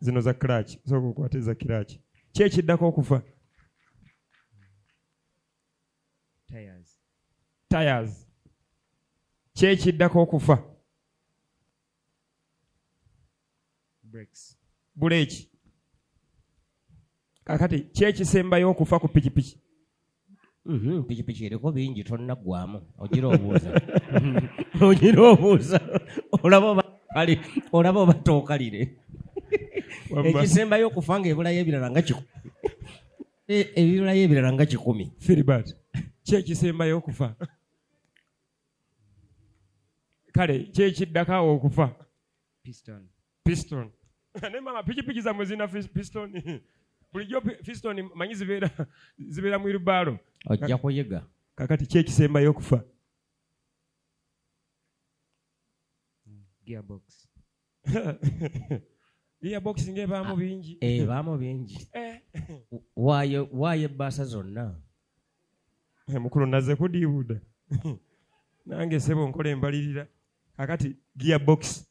zino za kiraaki sooka okwata eza kiraaki ki ekiddako okufa tires ki ekiddako okufa buleeki kakati ki ekisembayo okufa ku pikipiki Mhm, pikipiki eriko bingi tonnaggwamu ogira obuuza ogira obuuza olaba oba kali olaba oba tookalire Wamma. ekisembayo okufa nga ebulayo ebirala nga kikumi E- ebibulayo ebirala nga kikumi filibert kyekisembayo okufa kale kyekiddako awo okufa piston ne mama pikipiki zamwe zina piston bulijjo piston manyi zibeera zibeera mu irubaalo ojja kuyiga kakati ki ekisembayo okufa gearbox gearbox nga ebaamu ah, bingi eh, ebaamu bingi eh. waayo waayo ebbaasa zonna eh, mukulu naze kudiibuda nange sebo nkola embalirira kakati gearbox